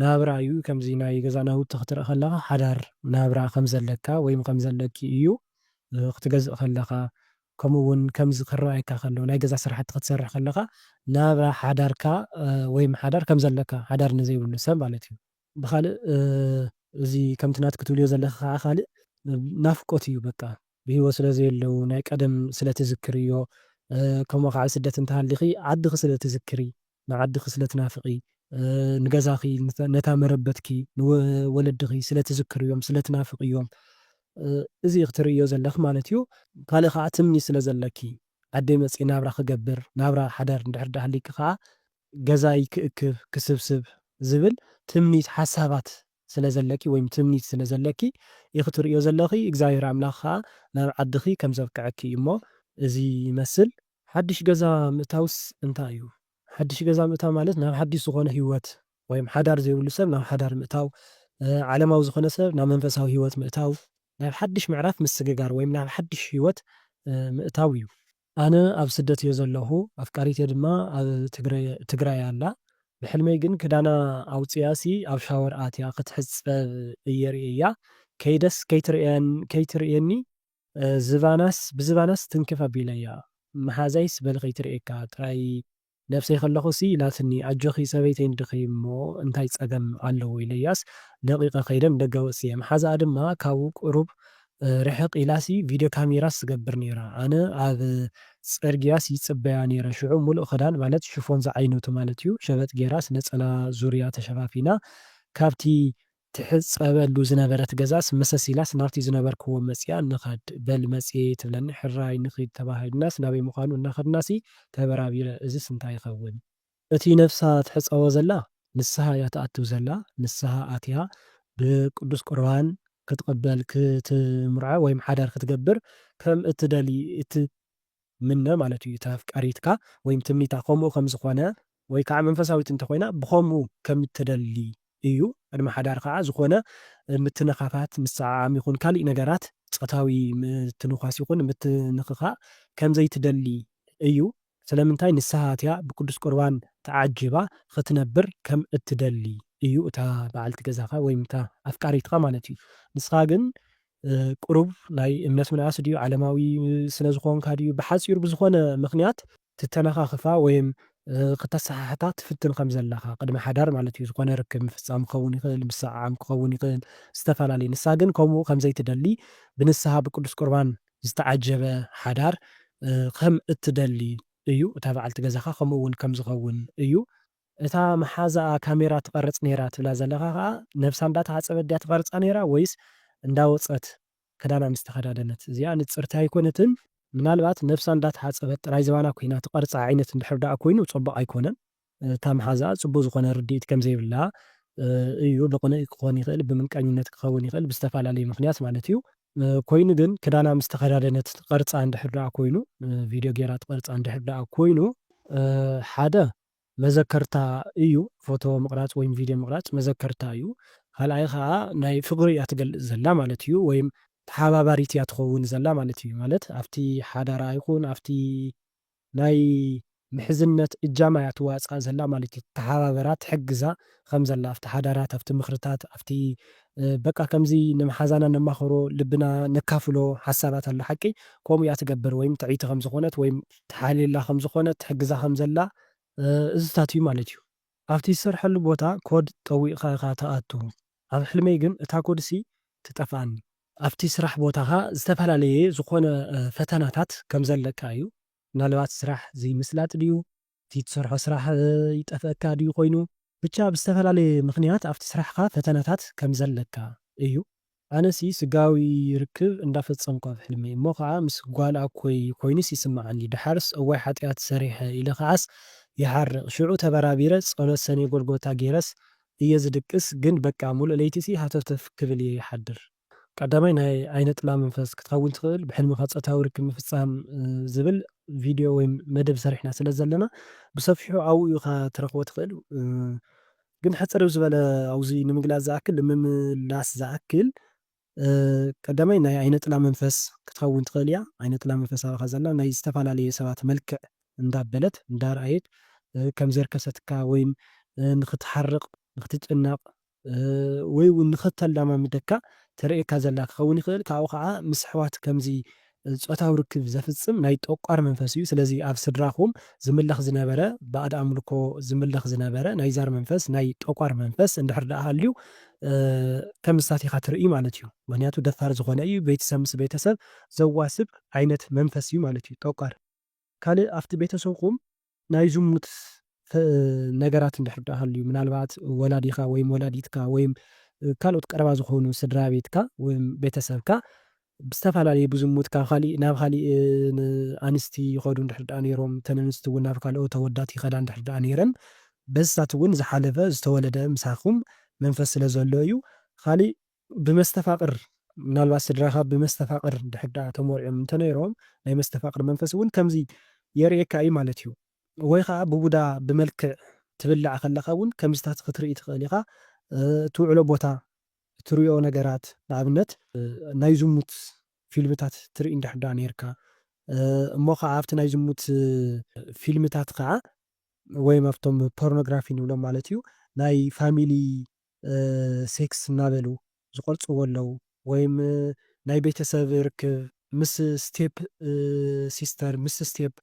ናብራ እዩ ከምዚ ናይ ገዛ ናውቲ ክትርኢ ከለኻ ሓዳር ናብራ ከም ዘለካ ወይም ከም ዘለኪ እዩ ክትገዝእ ከለኻ ከምኡ ውን ከምዚ ክረኣየካ ከሎ ናይ ገዛ ስራሕቲ ክትሰርሕ ከለኻ ናብራ ሓዳርካ ወይም ሓዳር ከም ዘለካ ሓዳር ንዘይብሉ ሰብ ማለት እዩ። ብኻልእ እዚ ከምቲ ናቲ ክትብልዮ ዘለኺ ከኣ ካልእ ናፍቆት እዩ በቃ ብሂወት ስለ ዘየለዉ ናይ ቀደም ስለ ትዝክርዮ ከምኡ ከኣ ኣብ ስደት እንተሃሊኺ ዓድኺ ስለ ትዝክሪ ንዓድኺ ስለ ትናፍቒ፣ ንገዛኺ፣ ነታ መረበትኪ፣ ንወለድኺ ስለ ትዝክርዮም፣ ስለ ትናፍቕዮም፣ እዚ ኢኺ ትርእይዮ ዘለኺ ማለት እዩ። ካልእ ከኣ ትምኒ ስለ ዘለኪ፣ ዓደይ መጺኤ ናብራ ክገብር፣ ናብራ ሓዳር እንድሕር ደኣ ሃልይኪ ከኣ ገዛይ ክእክብ፣ ክስብስብ ዝብል ትምኒት፣ ሓሳባት ስለ ዘለኪ ወይም ትምኒት ስለ ዘለኪ ኢኺ ትርእይዮ ዘለኺ። እግዚኣብሄር ኣምላኽ ከኣ ናብ ዓድኺ ከም ዘብቅዐኪ እዩ እሞ እዚ ይመስል። ሓድሽ ገዛ ምእታውስ እንታይ እዩ? ሓድሽ ገዛ ምእታው ማለት ናብ ሓድሽ ዝኾነ ህይወት ወይም ሓዳር ዘይብሉ ሰብ ናብ ሓዳር ምእታው፣ ዓለማዊ ዝኾነ ሰብ ናብ መንፈሳዊ ህይወት ምእታው፣ ናብ ሓድሽ ምዕራፍ ምስግጋር ወይም ናብ ሓድሽ ህይወት ምእታው እዩ። ኣነ ኣብ ስደት እየ ዘለኹ ኣፍቃሪተይ ድማ ኣብ ትግራይ ኣላ ብሕልመይ ግን ክዳና ኣውፂኣሲ ኣብ ሻወር ኣትያ ክትሕፀብ እየ ሪኤያ ከይደስ ከይትርእየኒ ዝባናስ ብዝባናስ ትንክፍ ኣቢለያ መሓዛይስ በል ከይትርእየካ ጥራይ ነብሰይ ከለኹሲ ኢላትኒ ኣጆኺ ሰበይተይ ዲኺ እሞ እንታይ ጸገም ኣለዎ ኢለያስ ለቒቐ ከይደ ንደገ ወጺኤ መሓዛኣ ድማ ካብኡ ቁሩብ ርሕቕ ኢላሲ ቪድዮ ካሜራስ ትገብር ኔራ ኣነ ኣብ ጽርግያስ ይጽበያ ኔረ ሽዑ ሙሉእ ክዳን ማለት ሽፎን ዝዓይነቱ ማለትዩ ሸበጥ ጌራስ ነጸላ ዙርያ ተሸፋፊና ካብቲ ትሕጸበሉ ዝነበረት ገዛስ መሰስ ኢላስ ናብቲ ዝነበርክዎ መጺኣ ንኸድ በል መጽየ ትብለኒ ሕራይ ንኺድ ተባሂልናስ ናበይ ምዃኑ እናኸድናሲ ተበራቢረ እዝስ እንታይ ይኸውን? እቲ ነፍሳ ትሕጸቦ ዘላ ንስሃ እያ ትኣትው ዘላ ንስሃ ኣትያ ብቅዱስ ቁርባን ክትቅበል ክትምርዖ ወይም ሓዳር ክትገብር ከም እትደሊ እቲ ምነ ማለት እዩ እታ ኣፍቃሪትካ ወይም ትምኒታ ከምኡ ከም ዝኾነ ወይ ካዓ መንፈሳዊት እንተ ኾይና ብኸምኡ ከም እትደሊ እዩ ቅድሚ ሓዳር ካዓ ዝኾነ ምትንኻፋት ምስዓዓም ይኹን ካሊእ ነገራት ፆታዊ ምትንዃስ ይኹን ምትንኽኻእ ከም ዘይትደሊ እዩ ስለምንታይ ንስሃ እቲያ ብቅዱስ ቁርባን ተዓጂባ ኽትነብር ከም እትደሊ እዩ እታ ባዓልቲ ገዛኻ ወይም እታ ኣፍቃሪትኻ ማለት እዩ ንስኻ ግን ቁሩብ ናይ እምነት ምንኣስ ድዩ ዓለማዊ ስለ ዝኾንካ ድዩ ብሓጺሩ ብዝኾነ ምኽንያት ትተነኻኽፋ ወይም ክተሰሓሕታ ትፍትን ከም ዘለኻ ቅድሚ ሓዳር ማለት እዩ ዝኾነ ርክብ ምፍጻም ክኸውን ይኽእል ምስዕዓም ክኸውን ይኽእል ዝተፈላለየ ንሳ ግን ከምኡ ከም ዘይትደሊ ብንስሃ ብቅዱስ ቁርባን ዝተዓጀበ ሓዳር ከም እትደሊ እዩ እታ በዓልቲ ገዛኻ ከምኡ እውን ከም ዝኸውን እዩ እታ መሓዛኣ ካሜራ ትቀርጽ ኔራ ትብላ ዘለኻ ከኣ ነብሳ እንዳ ተሓጸበት ድያ ትቀርጻ ኔራ ወይስ እንዳ ወጸት ክዳና ምስ ተኸዳደነት እዚኣ ንጽርቲ ኣይኮነትን ምናልባት ነብሳ እንዳ ተሓጸበት ጥራይ ዝባና ኮይና ትቀርጻ ዓይነት እንድሕር ድኣ ኮይኑ ጹቡቅ ኣይኮነን እታ መሓዛኣ ጽቡቅ ዝኾነ ርድኢት ከም ዘይብላ እዩ ብቅንኢ ክኾን ይኽእል ብምንቀኝነት ክኸውን ይኽእል ብዝተፋላለየ ምኽንያት ማለት እዩ ኮይኑ ግን ክዳና ምስ ተኸዳደነት ትቀርጻ እንድሕር ድኣ ኮይኑ ቪድዮ ጌራ ትቀርጻ እንድሕር ድኣ ኮይኑ ሓደ መዘከርታ እዩ ፎቶ ምቅራጽ ወይም ቪድዮ ምቅራጽ መዘከርታ እዩ ካልኣይ ከኣ ናይ ፍቅሪ እያ ትገልጽ ዘላ ማለት እዩ ወይም ተሓባባሪት እያ ትከውን ዘላ ማለት እዩ ማለት ኣብቲ ሓዳራ ይኩን ኣብቲ ናይ ምሕዝነት እጃማ እያ ትዋጻእ ዘላ ማለት እዩ ትተሓባበራ ትሕግዛ ከምዘላ ኣብቲ ሓዳራት ኣብቲ ምኽርታት ኣብቲ በቃ ከምዚ ንመሓዛና ነማኽሮ ልብና ነካፍሎ ሓሳባት ኣሎ ሓቂ ከምኡ እያ ትገብር ወይም ትዕይቲ ከምዝኾነት ወይም ትሓልየላ ከምዝኾነት ትሕግዛ ከምዘላ እዝታት እዩ ማለት እዩ። ኣብቲ ዝሰርሐሉ ቦታ ኮድ ጠዊቕካ ኢኻ ትኣቱ ኣብ ሕልመይ ግን እታ ኮድሲ ትጠፍኣኒ። ኣብቲ ስራሕ ቦታኻ ዝተፈላለየ ዝኾነ ፈተናታት ከምዘለካ እዩ ምናልባት ስራሕ ዘይምስላጥ ድዩ እቲ ትሰርሖ ስራሕ ይጠፍኣካ ድዩ ኮይኑ? ብቻ ብዝተፈላለየ ምኽንያት ኣብቲ ስራሕኻ ፈተናታት ከምዘለካ እዩ። ኣነሲ ስጋዊ ርክብ እንዳፈጸምኩ ኣብ ሕልመይ እሞ ከኣ ምስ ጓል ኣኮይ ኮይንስ ይስመዓኒ ደሓርስ እዋይ ሓጥያት ሰሪሐ ኢለ ከኣስ ይሓርቅ ሽዑ ተበራቢረ ጸሎት ሰኔ ጎልጎታ ጌረስ እየ ዝድቅስ ግን በቃ ሙሉእ ለይቲሲ ሃተፍተፍ ክብል እየ ይሓድር ቀዳማይ ናይ ዓይነ ጥላ መንፈስ ክትኸውን ትኽእል ብሕልምኻ ጾታዊ ርክብ ምፍጻም ዝብል ቪድዮ ወይ መደብ ሰሪሕና ስለ ዘለና ብሰፊሑ ኣብኡ ኢኻ ትረኽቦ ትኽእል ግን ሕጽር ዝበለ ኣብዚ ንምግላጽ ዝኣክል ንምምላስ ዝኣክል ቀዳማይ ናይ ዓይነ ጥላ መንፈስ ክትኸውን ትኽእል እያ ዓይነ ጥላ መንፈስ ኣባኻ ዘላ ናይ ዝተፋላለየ ሰባት መልክዕ እንዳበለት እንዳርኣየት ከም ዘርከሰትካ ወይ ንኽትሓርቕ ንኽትጭነቕ ወይ እውን ንኸተለማምደካ ተርእየካ ዘላ ክኸውን ይኽእል። ካብኡ ኸኣ ምስ ኣሕዋት ከምዚ ጾታዊ ርክብ ዘፍጽም ናይ ጠቋር መንፈስ እዩ። ስለዚ ኣብ ስድራኹም ዝምለኽ ዝነበረ ባእድ ኣምልኮ ዝምለኽ ዝነበረ ናይ ዛር መንፈስ ናይ ጠቋር መንፈስ እንድሕር ደኣ ሃልዩ ከም እሳት ኢኻ ትርእይ ማለት እዩ። ምኽንያቱ ደፋር ዝኾነ እዩ ቤተሰብ ምስ ቤተሰብ ዘዋስብ ዓይነት መንፈስ እዩ ማለት እዩ ጠቋር። ካልእ ኣብቲ ቤተሰብኩም ናይ ዝሙት ነገራት እንድሕር ደኣ ሃልዩ፣ ምናልባት ወላዲኻ ወይም ወላዲትካ ወይም ካልኦት ቀረባ ዝኾኑ ስድራቤትካ ወይም ቤተሰብካ ብዝተፈላለየ ብዝሙት ካብ ካሊእ ናብ ካሊእ ኣንስቲ ይኸዱ እንድሕር ደኣ ነይሮም፣ እተን ኣንስቲ እውን ናብ ካልኦት ኣወዳት ይኸዳ እንድሕር ደኣ ነይረን፣ በዚታት እውን ዝሓለፈ ዝተወለደ ምሳኹም መንፈስ ስለ ዘሎ እዩ፣ ካሊእ ብመስተፋቕር፣ ምናልባት ስድራኻ ብመስተፋቕር እንድሕር ደኣ ተሞሪዖም እንተነይሮም፣ ናይ መስተፋቕር መንፈስ እውን ከምዚ የርእየካ እዩ ማለት እዩ። ወይ ኸኣ ብቡዳ ብመልክዕ ትብላዕ ከለኻ እውን ከምዚታት ኽትርኢ ትኽእል ኢኻ። እትውዕሎ ቦታ፣ እትርእዮ ነገራት፣ ንኣብነት ናይ ዝሙት ፊልምታት ትርኢ እንድሕር ደኣ ነይርካ፣ እሞ ኸኣ ኣብቲ ናይ ዝሙት ፊልምታት ኸኣ ወይም ኣብቶም ፖርኖግራፊ ንብሎም ማለት እዩ፣ ናይ ፋሚሊ ሴክስ እናበሉ ዝቐርጽዎ ኣለዉ ወይም ናይ ቤተሰብ ርክብ ምስ ስቴፕ ሲስተር ምስ ስቴፕ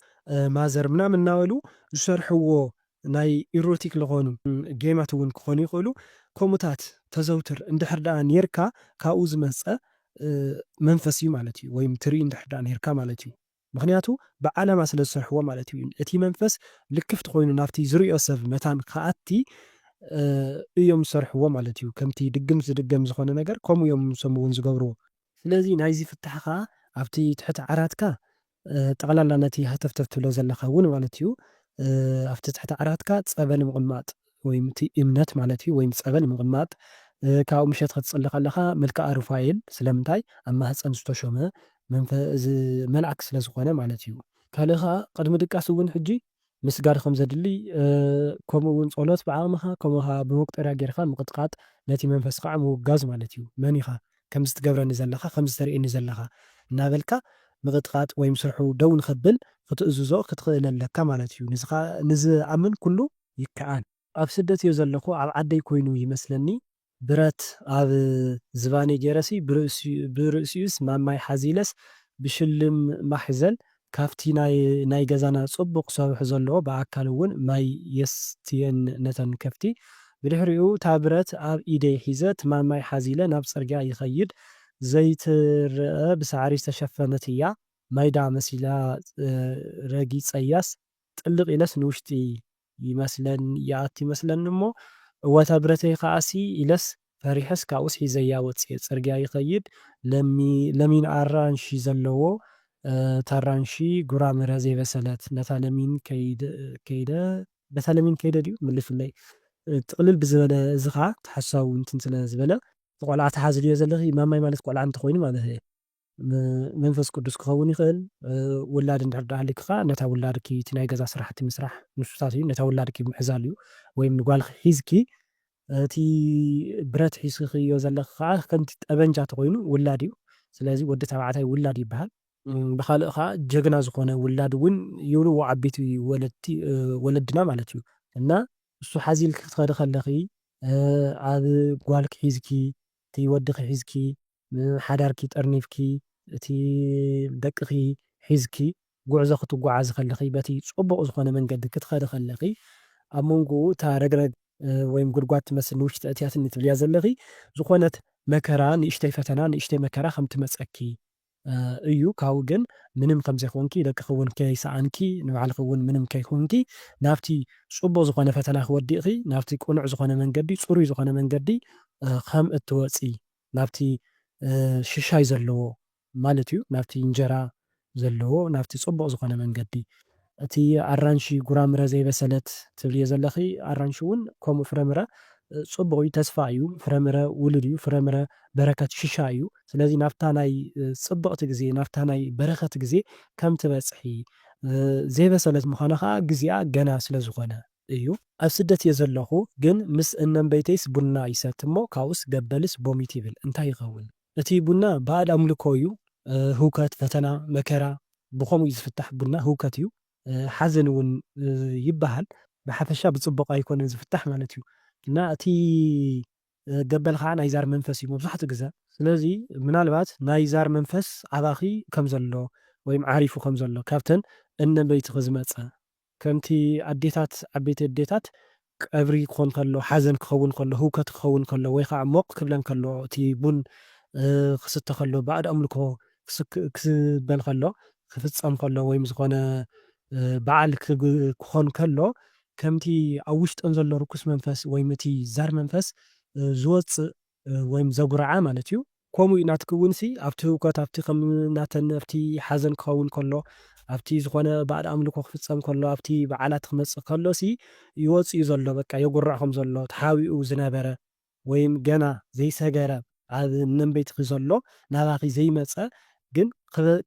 ማዘር ምናምን እናበሉ ዝሰርሕዎ ናይ ኢሮቲክ ልኾኑ ጌማት እውን ክኾኑ ይኽእሉ ከምኡታት ተዘውትር እንድሕር ደኣ ኔርካ ካብኡ ዝመጸ መንፈስ እዩ ማለት እዩ ወይም ትርኢ እንድሕር ደኣ ኔርካ ማለት እዩ። ምኽንያቱ ብዓላማ ስለ ዝሰርሕዎ ማለት እዩ። እቲ መንፈስ ልክፍቲ ኮይኑ ናብቲ ዝርእዮ ሰብ መታን ክኣቲ እዮም ዝሰርሕዎ ማለት እዩ። ከምቲ ድግምት ዝድገም ዝኾነ ነገር ከምኡ እዮም ንሶም እውን ዝገብርዎ። ስለዚ ናይዚ ፍታሕ ከኣ ኣብቲ ትሕቲ ዓራትካ ጠቕላላ ነቲ ሃተፍተፍ ትብሎ ዘለኻ እውን ማለት እዩ ኣብቲ ትሕቲ ዓራትካ ጸበል ምቕማጥ ወይ እቲ እምነት ማለት እዩ ወይ ጸበል ምቕማጥ ካብኡ ምሸት ክትጽሊ ከለኻ መልክኣ ሩፋኤል ስለምንታይ ኣብ ማህጸን ዝተሾመ መልኣክ ስለ ዝኾነ ማለት እዩ። ካልእ ከኣ ቅድሚ ድቃስ እውን ሕጂ ምስጋድ ከም ዘድሊ ከምኡ እውን ጸሎት ብዓቕምኻ ከምኡ ከኣ ብመቁጠርያ ጌርካ ምቕጥቃጥ ነቲ መንፈስ ከኣ ምውጋዝ ማለት እዩ መን ኢኻ ከምዚ ትገብረኒ ዘለኻ ከምዚ ተርእየኒ ዘለኻ እናበልካ ምቕጥቃጥ ወይ ምስርሑ ደው ንኸብል ክትእዝዞ ክትኽእል ኣለካ ማለት እዩ ንዚ ዝኣምን ኩሉ ይከኣል። ኣብ ስደት እየ ዘለኹ ኣብ ዓደይ ኮይኑ ይመስለኒ። ብረት ኣብ ዝባነይ ጌረሲ ብርእሲኡስ ማማይ ሓዚለስ ብሽልም ማሕዘል ካብቲ ናይ ገዛና ጽቡቕ ሰርሑ ዘለዎ ብኣካል እውን ማይ የስትየን ነተን ከፍቲ። ብድሕሪኡ እታ ብረት ኣብ ኢደይ ሒዘ እቲ ማማይ ሓዚለ ናብ ጽርግያ ይኸይድ። ዘይትረኣ ብሳዕሪ ዝተሸፈነት እያ ማይዳ መሲላ ረጊጸያስ ጥልቕ ኢለስ ንውሽጢ ይመስለኒ ይኣቱ ይመስለኒ እሞ እወ እታ ብረተይ ከኣሲ ኢለስ ፈሪሐስ ካብኡስ ሒዘያ ወጺኤ ጽርግያ ይኸይድ ለሚ ለሚን ኣራንሺ ዘለዎ ታራንሺ ጉራምረ ዘይበሰለት ነታ ለሚን ከይደ ከይደ በታ ለሚን ከይደ ድዩ ምልሱለይ ጥቕልል ብዝበለ እዚ ከኣ ተሓሳዊ እንትን ስለ ዝበለ። ቆልዓ ትሓዚ ድዮ ዘለኺ ማማይ ማለት ቆልዓ እንተኾይኑ ማለት እየ። ብመንፈስ ቅዱስ ክኸውን ይኽእል። ውላድ እንድሕር ደኣ ሃሊክኻ ነታ ውላድኪ እቲ ናይ ገዛ ስራሕቲ ምስራሕ ንሱታት እዩ። ነታ ውላድኪ ምሕዛል እዩ። ወይም ንጓልኺ ሒዝኪ እቲ ብረት ሒዝክኽዮ ዘለኺ ከኣ ከምቲ ጠበንጃ ተኾይኑ ውላድ እዩ። ስለዚ ወዲ ተባዕታይ ውላድ ይበሃል። ብኻልእ ከኣ ጀግና ዝኾነ ውላድ እውን ይብልዎ ዓበይቲ ወለድቲ ወለድና ማለት እዩ። እና ንሱ ሓዚልኪ ክትኸዲ ከለኺ ኣብ ጓልኪ ሒዝኪ እቲ ወድኺ ሒዝኪ፣ ሓዳርኪ ጠርኒፍኪ፣ እቲ ደቅኺ ሒዝኪ ጉዕዞ ክትጓዓዚ ከለኺ፣ በቲ ጽቡቕ ዝኾነ መንገዲ ክትኸዲ ከለኺ፣ ኣብ መንጎኡ እታ ረግረግ ወይም ጉድጓድ ትመስል ንውሽጢ ኣእትያትኒ ትብልያ ዘለኺ ዝኾነት መከራ፣ ንእሽተይ ፈተና፣ ንእሽተይ መከራ ከም ትመጸኪ እዩ ካብኡ ግን ምንም ከምዘይኮንኪ ደቅኪ ውን ከይሰኣንኪ ንባዕልኪ ውን ምንም ከይኮንኪ ናብቲ ጽቡቅ ዝኮነ ፈተናኪ ወዲቅኪ ናብቲ ቅኑዕ ዝኮነ መንገዲ ጽሩይ ዝኮነ መንገዲ ከም እትወጺ ናብቲ ሽሻይ ዘለዎ ማለት እዩ ናብቲ እንጀራ ዘለዎ ናብቲ ጽቡቅ ዝኮነ መንገዲ እቲ ኣራንሺ ጉራምረ ዘይበሰለት ትብልዮ ዘለኺ ኣራንሺ ውን ከምኡ ፍረምረ ጽቡቅ እዩ ተስፋ እዩ ፍረምረ ውሉድ እዩ ፍረምረ በረከት ሽሻ እዩ ስለዚ ናብታ ናይ ጽብቅቲ ግዜ ናብታ ናይ በረከት ግዜ ከም ትበጽሒ ዘይበሰለት ምዃና ከኣ ግዚኣ ገና ስለ ዝኾነ እዩ። ኣብ ስደት እየ ዘለኹ ግን ምስ እነንበይተይስ ቡና ይሰቲ እሞ ካብኡስ ገበልስ ቦሚት ይብል እንታይ ይኸውን። እቲ ቡና ባእድ ኣምልኮ እዩ ህውከት ፈተና መከራ ብከምኡ እዩ ዝፍታሕ ቡና ህውከት እዩ ሓዘን እውን ይበሃል ብሓፈሻ ብፅቡቅ ኣይኮነን ዝፍታሕ ማለት እዩ እና እቲ ገበል ከዓ ናይ ዛር መንፈስ እዩ መብዛሕትኡ ግዘ ስለዚ ምናልባት ናይ ዛር መንፈስ ኣባኪ ከምዘሎ ወይም ዓሪፉ ከምዘሎ ካብተን እነበይትኪ ዝመፀ ከምቲ ኣዴታት ዓበይቲ ኣዴታት ቀብሪ ክኾን ከሎ ሓዘን ክኸውን ከሎ ህውከት ክኸውን ከሎ ወይ ኻዓ ሞቅ ክብለን ከሎ እቲ ቡን ክስተ ከሎ ባእድ ኣምልኮ ክበል ከሎ ክፍጸም ከሎ ወይም ዝኾነ ባዓል ክኾን ከሎ ከምቲ ኣብ ውሽጠን ዘሎ ርኩስ መንፈስ ወይም እቲ ዛር መንፈስ ዝወጽእ ወይም ዘጉርዓ ማለት እዩ። ኮምኡ እዩ ናትኪ እውንሲ ኣብቲ ህውከት ኣብቲ ከም ናተን ኣብቲ ሓዘን ክኸውን ከሎ ኣብቲ ዝኾነ ባእድ ኣምልኮ ክፍጸም ከሎ ኣብቲ በዓላት ክመጽእ ከሎሲ ይወጽእ እዩ ዘሎ በቃ የጉርዕ ከም ዘሎ ተሓቢኡ ዝነበረ ወይም ገና ዘይሰገረ ኣብ ነንበይትኪ ዘሎ ናባኺ ዘይመጸ ግን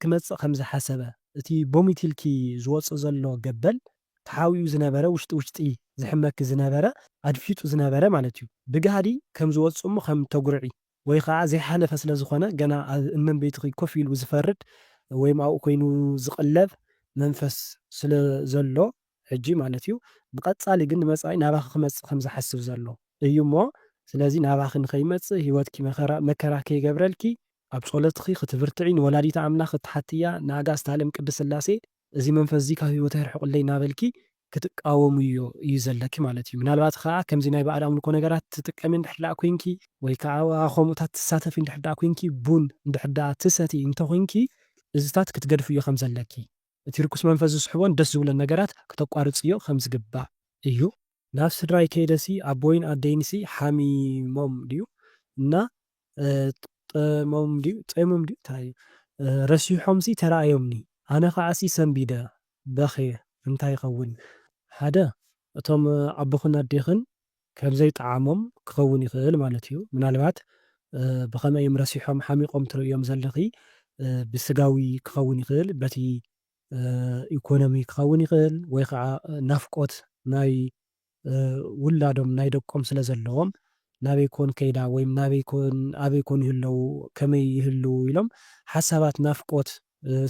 ክመጽእ ከም ዝሓሰበ እቲ ቦሚት ኢልኪ ዝወጽእ ዘሎ ገበል ተሓዊኡ ዝነበረ ውሽጢ ውሽጢ ዝሕመኪ ዝነበረ ኣድፊጡ ዝነበረ ማለት እዩ ብጋህዲ ከም ዝወጽእ እሞ ከም ተጉርዒ ወይ ኸኣ ዘይሓለፈ ስለ ዝኾነ ገና ኣብ እመንበይትኺ ኮፍ ኢሉ ዝፈርድ ወይም ኣብኡ ኮይኑ ዝቕለብ መንፈስ ስለ ዘሎ ሕጂ ማለት እዩ ብቐጻሊ ግን ንመጻኢ ናባኺ ክመጽእ ከም ዝሓስብ ዘሎ እዩ እሞ ስለዚ ናባኺ ንኸይመጽእ ህይወትኪ መከራ መከራ ከይገብረልኪ ኣብ ጾሎትኺ ክትብርትዒ ንወላዲተ ኣምላኽ ክትሓትያ ንኣጋእዝተ ኣለም ቅድስት ስላሴ እዚ መንፈስዚ ካብ ህይወተይ ኣርሕቁለይ እናበልኪ ክትቃወምዮ እዩ ዘለኪ ማለት እዩ። ምናልባት ከኣ ከምዚ ናይ ባእድ ኣምልኮ ነገራት ትጥቀሚ እንድሕር ደኣ ኮይንኪ፣ ወይ ከኣ ኣብ ከምኡታት ትሳተፊ እንድሕር ደኣ ኮይንኪ፣ ቡን እንድሕር ደኣ ትሰትዪ እንተኮይንኪ እዚታት ክትገድፍዮ ከም ዘለኪ፣ እቲ ርኩስ መንፈስ ዝስሕቦን ደስ ዝብሎን ነገራት ክተቋርጽዮ ከም ዝግባእ እዩ። ናብ ስድራይ ከይደሲ ኣቦይን ኣደይንሲ ሓሚሞም ድዩ እና ጠይሞም ድዩ ጸይሞም ድዩ እንታይ እዩ ረሲሖምሲ ተራእዮምኒ ኣነ ከዓሲ ሰንቢደ በኽየ እንታይ ይኸውን ሓደ እቶም ኣቦኽን ኣዴኽን ከምዘይጠዓሞም ክኸውን ይኽእል ማለት እዩ ምናልባት ብኸመይ እዮም ረሲሖም ሓሚቖም ትርእዮም ዘለኺ ብስጋዊ ክኸውን ይኽእል በቲ ኢኮኖሚ ክኸውን ይኽእል ወይ ከዓ ናፍቆት ናይ ውላዶም ናይ ደቆም ስለ ዘለዎም ናበይ ኮን ከይዳ ወይም ናበይ ኮን ኣበይ ኮን ይህለዉ ከመይ ይህልዉ ኢሎም ሓሳባት ናፍቆት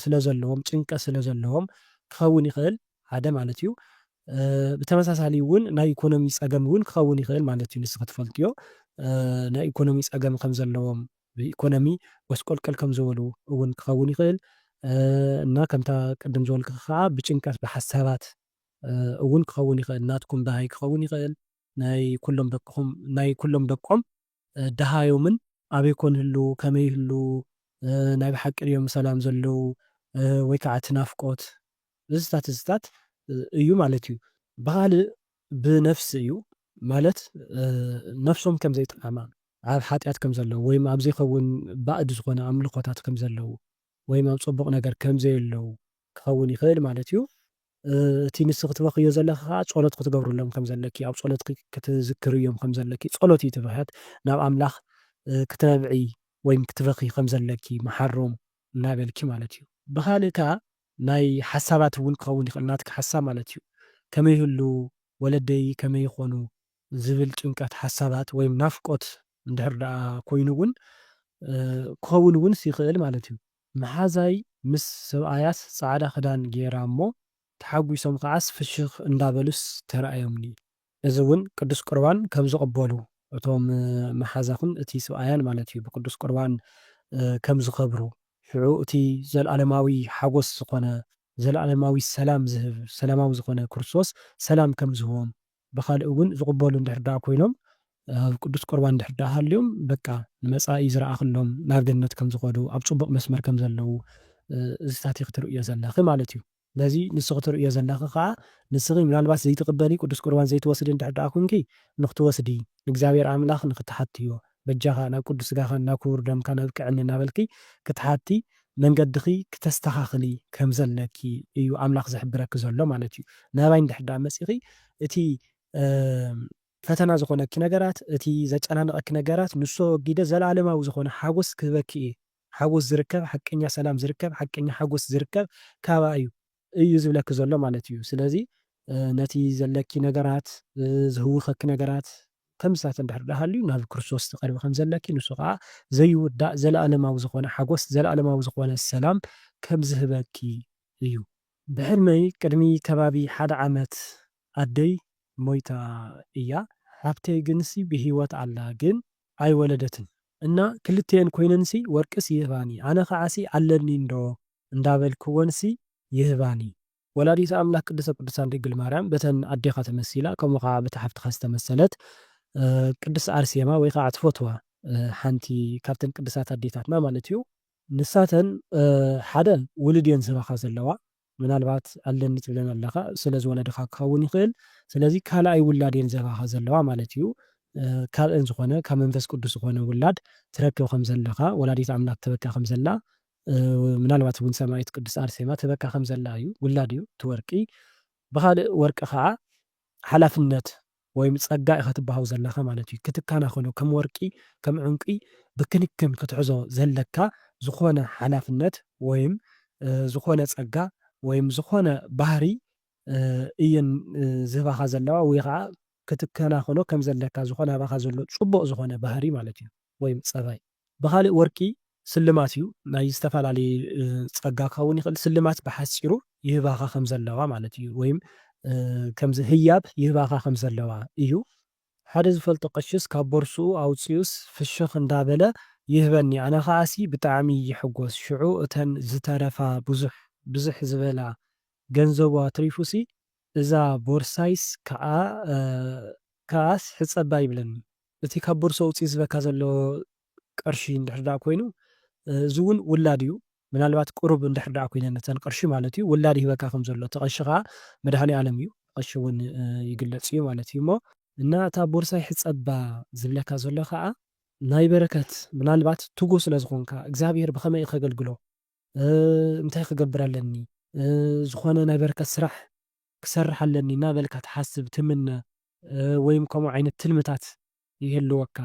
ስለ ዘለዎም ጭንቀት ስለ ዘለዎም ክኸውን ይኽእል ሓደ ማለት እዩ ብተመሳሳሊ ውን ናይ ኢኮኖሚ ጸገም ውን ክኸውን ይኽእል ማለት እዩ ንስኺ ትፈልጥዮ ናይ ኢኮኖሚ ጸገም ከም ዘለዎም ብኢኮኖሚ ጎስቆልቀል ከም ዝበሉ ውን ክኸውን ይኽእል እና ከምታ ቅድም ዝበልክኺ ከኣ ብጭንቀት ብሓሳባት እውን ክኸውን ይኽእል ናትኩም ደሃይ ክኸውን ይኽእል ናይ ኩሎም ደቅኹም ናይ ኩሎም ደቆም ደሃዮምን ኣበይ ኮን ይህልዉ ከመይ ይህልዉ ናይ ብሓቂ ድዮም ብሰላም ዘለዉ ወይ ከዓ እቲ ናፍቆት እዝታት እዝታት እዩ ማለት እዩ ብኻልእ ብነፍሲ እዩ ማለት ነፍሶም ከም ዘይጠዓማ ኣብ ሓጢኣት ከም ዘለዉ ወይም ኣብ ዘይኸውን ባእድ ዝኾነ ኣምልኾታት ከም ዘለዉ ወይም ኣብ ፅቡቕ ነገር ከም ዘየለዉ ክኸውን ይኽእል ማለት እዩ። እቲ ንስኺ ትበኽዮ ዘለኺ ከኣ ጸሎት ክትገብርሎም ከም ዘለኪ፣ ኣብ ጸሎትኪ ክትዝክርዮም ከም ዘለኪ፣ ጸሎት እዩ እቲ ብኽያት፣ ናብ ኣምላኽ ክትነብዒ ወይም ክትበኽዪ ከም ዘለኪ፣ መሓሮም እናበልኪ ማለት እዩ። ብኻልእ ከኣ ናይ ሓሳባት እውን ክኸውን ይኽእል፣ ናትኪ ሓሳብ ማለት እዩ። ከመይ ይህልዉ ወለደይ፣ ከመይ ይኾኑ ዝብል ጭንቀት፣ ሓሳባት ወይም ናፍቆት እንድሕር ደኣ ኮይኑ እውን ክኸውን እውንስ ይኽእል ማለት እዩ። መሓዛይ ምስ ሰብኣያስ ጻዕዳ ክዳን ገይራ እሞ ተሓጒሶም ከኣስ ፍሽኽ እንዳበሉስ ተራእዮምኒ። እዚ እውን ቅዱስ ቁርባን ከም ዝቕበሉ እቶም መሓዛኹም እቲ ስብኣያን ማለት እዩ ብቅዱስ ቁርባን ከም ዝኸብሩ ሽዑ እቲ ዘለዓለማዊ ሓጐስ ዝኾነ ዘለዓለማዊ ሰላም ዝህብ ሰላማዊ ዝኾነ ክርስቶስ ሰላም ከም ዝህቦም ብኻልእ እውን ዝቕበሉ እንድሕር ደኣ ኮይኖም ኣብ ቅዱስ ቁርባን እንድሕር ደኣ ሃልዮም በቃ ንመጻኢ ዝረኣኽሎም ናብ ገነት ከም ዝኸዱ ኣብ ጽቡቕ መስመር ከም ዘለዉ እዚታት ኢኺ ትርእዮ ዘለኺ ማለት እዩ። ነዚ ንስኺ ትርእዮ ዘለኺ ከኣ ንስኺ ምናልባት ዘይትቕበሊ ቅዱስ ቁርባን ዘይትወስዲ እንድሕር ደኣ ኩንኪ ንኽትወስዲ ንእግዚኣብሔር ኣምላኽ ንኽትሓትዮ በጃኻ ናብ ቅዱስ ስጋኻን ናብ ክቡር ደምካን ኣብቅዕኒ እናበልኪ ክትሓቲ መንገድኺ ክተስተኻኽሊ ከምዘለኪ እዩ ኣምላኽ ዝሕብረኪ ዘሎ ማለት እዩ። ናባይ እንድሕር ደኣ መጺኺ እቲ ፈተና ዝኾነኪ ነገራት እቲ ዘጨናንቐኪ ነገራት ንሱ ኣወጊደ ዘለኣለማዊ ዝኾነ ሓጎስ ክህበኪ እየ። ሓጎስ ዝርከብ ሓቀኛ ሰላም ዝርከብ ሓቀኛ ሓጎስ ዝርከብ ካብኣ እዩ። እዩ ዝብለኪ ዘሎ ማለት እዩ ስለዚ ነቲ ዘለኪ ነገራት ዝህውከኪ ነገራት ከምዚታት እንድሕር ድኣ ሃልዩ ናብ ክርስቶስ ትቀርቢ ከምዘለኪ ንሱ ከኣ ዘይውዳእ ዘለኣለማዊ ዝኮነ ሓጎስ ዘለኣለማዊ ዝኮነ ሰላም ከምዝህበኪ እዩ። ብሕልመይ ቅድሚ ከባቢ ሓደ ዓመት ኣደይ ሞይታ እያ ሓብተይ ግንሲ ብሂወት ኣላ ግን ኣይወለደትን እና ክልቲኤን ኮይነንሲ ወርቅስ ይህባኒ ኣነ ከዓሲ ኣለኒ እንዶ እንዳበልክወንሲ ይህባኒ። ወላዲተ ኣምላክ ቅድስተ ቅዱሳን ድንግል ማርያም በተን ኣዴካ ተመሲላ ከምኡ ከኣ በታ ሓፍትካ ዝተመሰለት ቅድስት ኣርሴማ ወይ ከኣ ትፈትዋ ሓንቲ ካብተን ቅድሳት ኣዴታትና ማለት እዩ ንሳተን ሓደ ውሉድ እየን ዝህባካ ዘለዋ ምናልባት ኣለኒ ትብለን ኣለኻ ስለ ዝወለድኻ ክኸውን ይኽእል ስለዚ ካልኣይ ውላድ እየን ዝህባኻ ዘለዋ ማለት እዩ ካብኤን ዝኾነ ካብ መንፈስ ቅዱስ ዝኾነ ውላድ ትረክብ ከም ዘለኻ ወላዲት ኣምላክ ትህበካ ከም ዘላ ምናልባት እውን ሰማይት ቅድስት ኣርሴማ ትህበካ ከም ዘላ እዩ ውላድ እዩ እቲ ወርቂ ብኻልእ ወርቂ ኸዓ ሓላፍነት ወይም ጸጋ ኢኻ ትበሃው ዘለኻ ማለት እዩ። ክትካናኸኖ ከም ወርቂ ከም ዑንቂ ብክንክን ክትሕዞ ዘለካ ዝኾነ ሓላፍነት ወይም ዝኾነ ጸጋ ወይም ዝኾነ ባህሪ እየን ዝህባኻ ዘለዋ ወይ ኸኣ ክትከናኸኖ ከም ዘለካ ዝኾነ ኣባኻ ዘሎ ጽቡቕ ዝኾነ ባህሪ ማለት እዩ። ወይም ፀባይ። ብኻሊእ ወርቂ ስልማት እዩ ናይ ዝተፋላለየ ፀጋ ክኸውን ይኽእል ስልማት ብሓፂሩ ይህባኻ ከም ዘለዋ ማለት እዩ ወይም ከምዚ ህያብ ይህባኻ ከም ዘለዋ እዩ ሓደ ዝፈልጦ ቀሽስ ካብ ቦርስኡ ኣውፂኡስ ፍሽኽ እንዳበለ ይህበኒ ኣነ ኻዓሲ ብጣዕሚ ይሕጎስ ሽዑ እተን ዝተረፋ ብዙሕ ብዝሕ ዝበላ ገንዘቡ ኣትሪፉሲ እዛ ቦርሳይስ ካዓ ካዓስ ሕፀባ ይብለኒ እቲ ካብ ቦርሳ ውጽኢት ዝበካ ዘሎ ቅርሺ እንድሕር ደኣ ኮይኑ እዚ ውን ውላድ እዩ ምናልባት ቅሩብ እንድሕር ደኣ ኮይነን እተን ቅርሺ ማለት እዩ ውላድ ይህበካ ከም ዘሎ እቲ ቀሺ ከኣ መድሃኒኣለም እዩ ብቀሺ ውን ይግለጽ እዩ ማለት እዩ እሞ እና እታ ቦርሳ ይሕጸባ ዝብለካ ዘሎ ከኣ ናይ በረከት ምናልባት ትጉህ ስለ ዝኮንካ እግዚኣብሄር ብከመይ ከገልግሎ እንታይ ክገብር ኣለኒ ዝኮነ ናይ በረከት ስራሕ ክሰርሕ ኣለኒ እናበልካ ትሓስብ፣ ትምነ፣ ወይም ከምኡ ዓይነት ትልምታት ይህልወካ?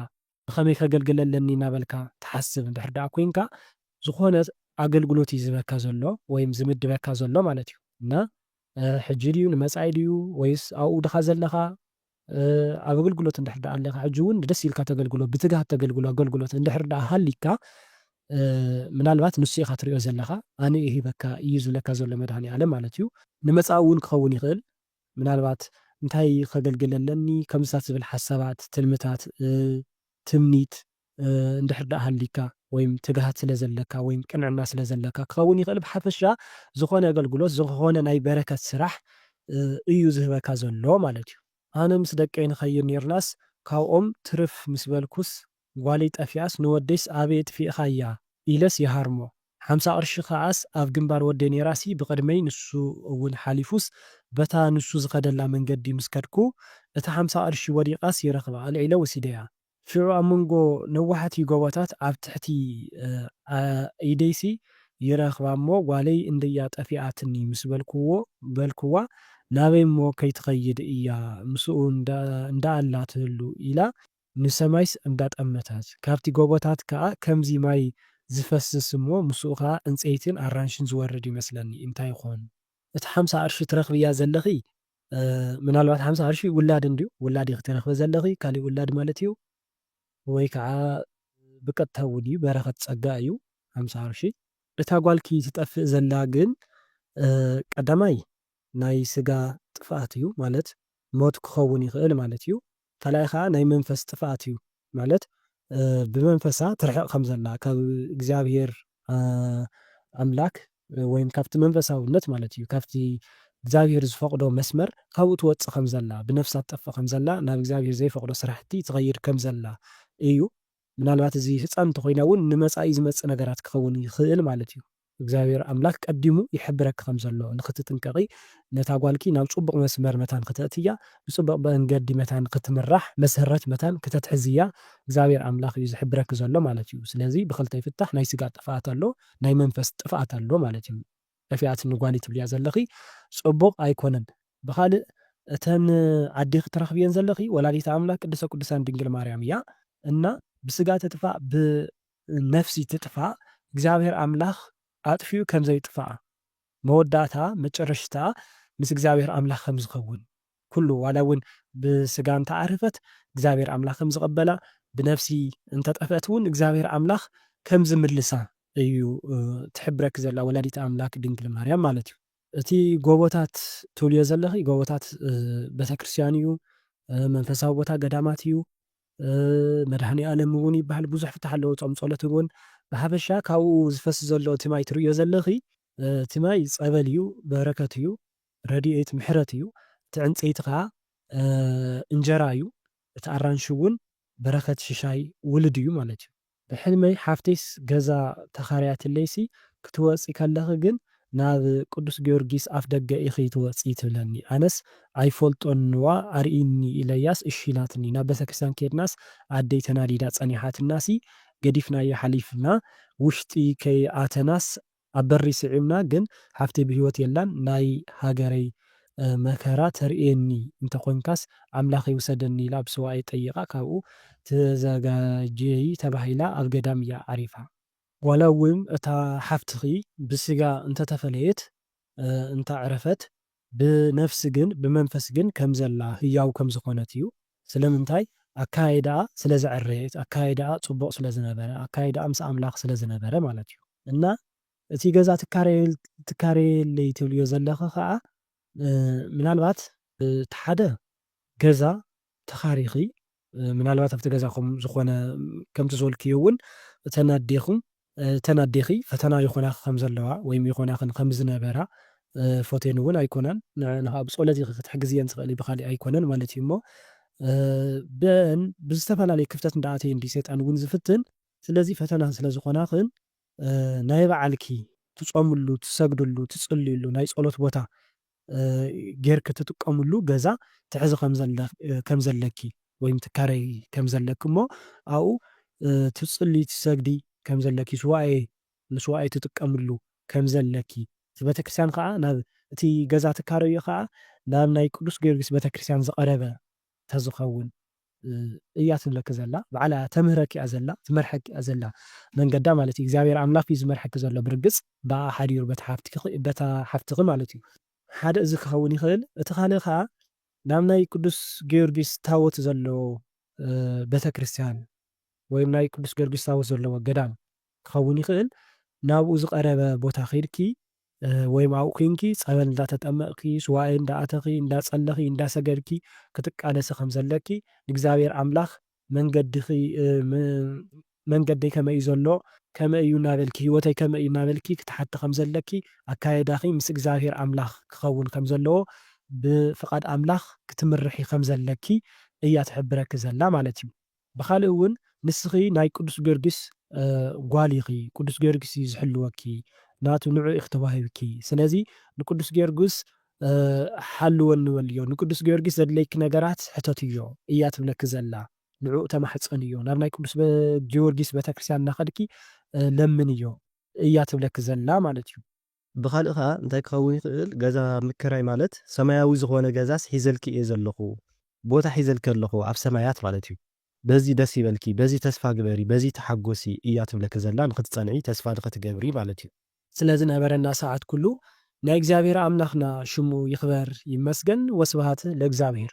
ብኸመይ ከገልግል ኣለኒ እናበልካ ትሓስብ እንድሕር ደኣ ኮይንካ፣ ዝኾነ ኣገልግሎት እዩ ዝህበካ ዘሎ ወይም ዝምድበካ ዘሎ ማለት እዩ። እና ሕጂ ድዩ ንመጻኢ ድዩ ወይስ ኣብኡ ድኻ ዘለኻ ኣብ ኣገልግሎት እንድሕር ደኣ ኣለኻ ሕጂ ውን ደስ ኢልካ ተገልግሎ ብትግሃት ተገልግሎ ኣገልግሎት እንድሕር ደኣ ሃሊካ ምናልባት ንሱ ኢኻ ትሪኦ ዘለኻ ኣነ ሂበካ ኢዩ ዝብለካ ዘሎ መድሃኒኣለም ማለት ኢዩ። ንመጻኢ ውን ክኸውን ይኽእል ምናልባት እንታይ ከገልግል ኣለኒ ከምዚታት ዝብል ሓሳባት ትልምታት ትምኒት እንድሕር ደኣ ሃሊካ ወይም ትግሃት ስለ ዘለካ ወይም ቅንዕና ስለ ዘለካ ክኸውን ይኽእል ብሓፈሻ ዝኾነ ኣገልግሎት ዝኾነ ናይ በረከት ስራሕ እዩ ዝህበካ ዘሎ ማለት እዩ። ኣነ ምስ ደቀይ ንኸይድ ኔርናስ ካብኦም ትርፍ ምስ በልኩስ ጓለይ ጠፊኣስ ንወደይስ ኣበይ ኣጥፊእኻያ ኢለስ ይሃርሞ ሓምሳ ቅርሺ ከኣስ ኣብ ግንባር ወደይ ኔራሲ ብቅድመይ ንሱ እውን ሓሊፉስ በታ ንሱ ዝኸደላ መንገዲ ምስ ከድኩ እታ ሓምሳ ቅርሺ ወዲቃስ ይረኽባ ኣልዒለ ወሲደያ ሽዑ ኣብ መንጎ ነዋሕቲ ጎቦታት ኣብ ትሕቲ ኢደይሲ ይረኽባ እሞ ጓለይ እንደያ ጠፊኣትኒ ምስ በልኩዎ በልኩዋ ናበይ እሞ ከይትኸይድ እያ ምስኡ እንዳኣላ ትህሉ ኢላ ንሰማይስ እንዳጠመተት ካብቲ ጎቦታት ከኣ ከምዚ ማይ ዝፈስስ እሞ ምስኡ ከኣ ዕንጸይትን ኣራንሽን ዝወርድ ይመስለኒ እንታይ ይኾን እቲ ሓምሳ ቅርሺ ትረኽብያ ዘለኺ ምናልባት ሓምሳ ቅርሺ ውላድ እንድዩ ውላድ ኢኪ ትረክቢ ዘለኪ ካሊእ ውላድ ማለት እዩ ወይ ከዓ ብቀጥታ እውን እዩ በረከት ፀጋ እዩ ሓምሳ ቅርሺ። እታ ጓልኪ ትጠፍእ ዘላ ግን ቀዳማይ ናይ ስጋ ጥፍኣት እዩ ማለት ሞት ክከውን ይክእል ማለት እዩ። ካልኣይ ከኣ ናይ መንፈስ ጥፍኣት እዩ ማለት ብመንፈሳ ትርሕቅ ከም ዘላ ካብ እግዚኣብሄር ኣምላክ ወይም ካብቲ መንፈሳውነት ማለት እዩ ካብቲ እግዚኣብሄር ዝፈቅዶ መስመር ካብኡ ትወጽእ ከም ዘላ ብነፍሳ ትጠፍእ ከም ዘላ ናብ እግዚኣብሄር ዘይፈቅዶ ስራሕቲ ትከይድ ከም ዘላ እዩ ምናልባት እዚ ህጻን እንተኮይና ውን ንመጻኢ ዝመጽእ ነገራት ክከውን ይክእል ማለት እዩ። እግዚኣብሔር ኣምላክ ቀዲሙ ይሕብረኪ ከም ዘሎ ንክትጥንቀቂ ነታ ጓልኪ ናብ ጹቡቅ መስመር መታን ክተእትያ ብጽቡቅ መንገዲ መታን ክትምራሕ መሰረት መታን ክተትሕዝያ እግዚኣብሔር ኣምላክ እዩ ዝሕብረኪ ዘሎ ማለት እዩ ስለዚ ብክልተ ይፍታሕ ናይ ስጋ ጥፍኣት ኣሎ ናይ መንፈስ ጥፍኣት ኣሎ ማለት እዩ ጠፊኣትኒ ጓልይ ትብልያ ዘለኪ ጹቡቅ ኣይኮነን ብካልእ እተን ኣዴኪ ትረክብየን ዘለኪ ወላዲተ ኣምላክ ቅድስተ ቁዱሳን ድንግል ማርያም እያ እና ብስጋ ትጥፋእ ብ ነፍሲ ትጥፋእ እግዚኣብሔር ኣምላክ ኣጥፊኡ ከም ዘይጥፋኣ መወዳእታ መጨረሽትኣ ምስ እግዚኣብሔር ኣምላክ ከም ዝከውን ኩሉ ዋላ እውን ብስጋ እንተ ዓረፈት እግዚኣብሔር ኣምላክ ከም ዝቀበላ ብነፍሲ እንተ ጠፍእት እውን እግዚኣብሔር ኣምላክ ከም ዝምልሳ እዩ ትሕብረኪ ዘላ ወላዲተ ኣምላክ ድንግል ማርያም ማለት እዩ። እቲ ጎቦታት ትብልዮ ዘለኺ ጎቦታት ቤተክርስትያን እዩ መንፈሳዊ ቦታ ገዳማት እዩ መድሃኒኣለም ውን ይብሃል ብዙሕ ፍታሕ ኣለዎ ጾም ጾሎት ውን ብሓፈሻ ካብኡ ዝፈስ ዘሎ እቲ ማይ ትርእዮ ዘለኺ እቲ ማይ ጸበል እዩ በረከት እዩ ረዲኤት ምሕረት እዩ እቲ ዕንጸይቲ ከኣ እንጀራ እዩ እቲ ኣራንሺ ውን በረከት ሽሻይ ውሉድ እዩ ማለት እዩ ብሕልመይ ሓፍተይስ ገዛ ተኻርያትለይሲ ክትወጺ ከለኺ ግን ናብ ቅዱስ ጊዮርጊስ ኣፍደገ ኢኺ ትወጺ ትብለኒ ኣነስ ኣይፈልጦንዋ ኣርእይኒ ኢለያስ እሺ ኢላትኒ ናብ ቤተክርስትያን ከድናስ ኣደይ ተናዲዳ ጸኒሓትናሲ ገዲፍናዮ ሓሊፍና ውሽጢ ከይኣተናስ ኣብ በሪ ስዒብና ግን ሓፍተይ ብህይወት የላን ናይ ሃገረይ መከራ ተርእየኒ እንተ ኮንካስ ኣምላኽ ይውሰደኒ ኢላ ብስውኣይ ጠይቃ ካብኡ ተዘጋጀዪ ተባሂላ ኣብ ገዳም እያ ዓሪፋ። ዋላ እውን እታ ሓፍትኺ ብስጋ እንተ ተፈለየት እንተ ዕረፈት ብነፍሲ ግን ብመንፈስ ግን ከም ዘላ ህያው ከም ዝኾነት እዩ። ስለምንታይ? ኣከያይዳኣ ስለ ዘዐረየት፣ ኣከያይዳኣ ጽቡቕ ስለ ዝነበረ፣ ኣከያይዳኣ ምስ ኣምላኽ ስለ ዝነበረ ማለት እዩ። እና እቲ ገዛ ትካረየለይ ትብልዮ ዘለኺ ከኣ ምናልባት፣ እቲ ሓደ ገዛ ተኻሪኺ ምናልባት ኣብቲ ገዛኹም ዝኾነ ከምቲ ዝበልክዮ እውን እተን ኣዴኹም እተን ኣዴኺ ፈተና ይኾናኺ ከም ዘለዋ ወይም ይኾናኽን ከም ዝነበራ ፎቴን እውን ኣይኮናን ንዕዕን ኸኣ ብጸሎት ኢኺ ክትሕግዝየን ትኽእሊ ብኻሊእ ኣይኮነን ማለት እዩ እሞ በን ብዝተፈላለየ ክፍተት እንዳኣተየ እንድዩ ሰይጣን እውን ዝፍትን ስለዚ ፈተና ስለ ዝኾናኽን ናይ ባዓልኪ ትጾምሉ ትሰግድሉ ትጽልይሉ ናይ ጸሎት ቦታ ጌርኪ ትጥቀምሉ ገዛ ትሕዚ ከም ዘለኪ ወይም ትካረዪ ከም ዘለኪ እሞ ኣብኡ ትጽልዪ ትሰግዲ ከም ዘለኪ ሱባኤ ንሱባኤ ትጥቀምሉ ከም ዘለኪ እቲ ቤተክርስትያን ከኣ ናብ እቲ ገዛ ትካረዪ ከኣ ናብ ናይ ቅዱስ ጊዮርጊስ ቤተክርስትያን ዝቐረበ ተዝኸውን እያ ትብለኪ ዘላ ባዕላ እያ ተምህረኪ እያ ዘላ ትመርሐኪ እያ ዘላ መንገዳ ማለት እዩ እግዚኣብሔር ኣምላክ እዩ ዝመርሐኪ ዘሎ ብርግፅ ብኣኣ ሓዲሩ በታ ሓፍትኪ በታ ሓፍትኪ ማለት እዩ ሓደ እዚ ክኸውን ይኽእል እቲ ካልእ ከዓ ናብ ናይ ቅዱስ ጊዮርጊስ ታቦት ዘለዎ ቤተክርስትያን ወይም ናይ ቅዱስ ጊዮርጊስ ታቦት ዘለዎ ገዳም ክኸውን ይኽእል ናብኡ ዝቀረበ ቦታ ከይድኪ ወይም ኣብኡ ኩንኪ ጸበል እንዳተጠመቕኪ፣ ሱባኤ እንዳኣተኺ፣ እንዳጸለኺ፣ እንዳሰገድኪ ክትቃለሲ ከም ዘለኪ፣ ንእግዚኣብሔር ኣምላኽ መንገድኺ መንገደይ ከመይ እዩ ዘሎ፣ ከመይ እዩ እናበልኪ፣ ህይወተይ ከመይ እዩ እናበልኪ ክትሓቲ ከም ዘለኪ፣ ኣካያይዳኺ ምስ እግዚኣብሔር ኣምላኽ ክኸውን ከም ዘለዎ፣ ብፍቓድ ኣምላኽ ክትምርሒ ከም ዘለኪ እያ ትሕብረኪ ዘላ ማለት እዩ። ብኻልእ እውን ንስኺ ናይ ቅዱስ ጊዮርጊስ ጓል ኢኺ፣ ቅዱስ ጊዮርጊስ እዩ ዝሕልወኪ፣ ናቱ ንዑ ኢኺ ተዋሂብኪ፣ ስለዚ ንቅዱስ ጊዮርጊስ ሓልወኒ በልዮ፣ ንቅዱስ ጊዮርጊስ ዘድልየኪ ነገራት ሕተትዮ እያ ትብለኪ ዘላ፣ ንዕኡ ተማሕፀንዮ፣ ናብ ናይ ቅዱስ ጊዮርጊስ ቤተክርስትያን እናኸድኪ ለምንዮ እያ ትብለኪ ዘላ ማለት እዩ። ብኻልእ ከኣ እንታይ ክኸውን ይኽእል ገዛ ምክራይ ማለት ሰማያዊ ዝኾነ ገዛስ ሒዘልኪ እየ ዘለኹ ቦታ ሒዘልኪ ኣለኹ ኣብ ሰማያት ማለት እዩ በዚ ደስ ይበልኪ በዚ ተስፋ ግበሪ በዚ ተሓጎሲ እያ ትብለኪ ዘላ ንኽትጸንዒ ተስፋ ንኽትገብሪ ማለት እዩ። ስለ ዝነበረና ሰዓት ኩሉ ናይ እግዚኣብሔር ኣምላክና ሽሙ ይክበር ይመስገን ወስብሃት ለእግዚኣብሔር።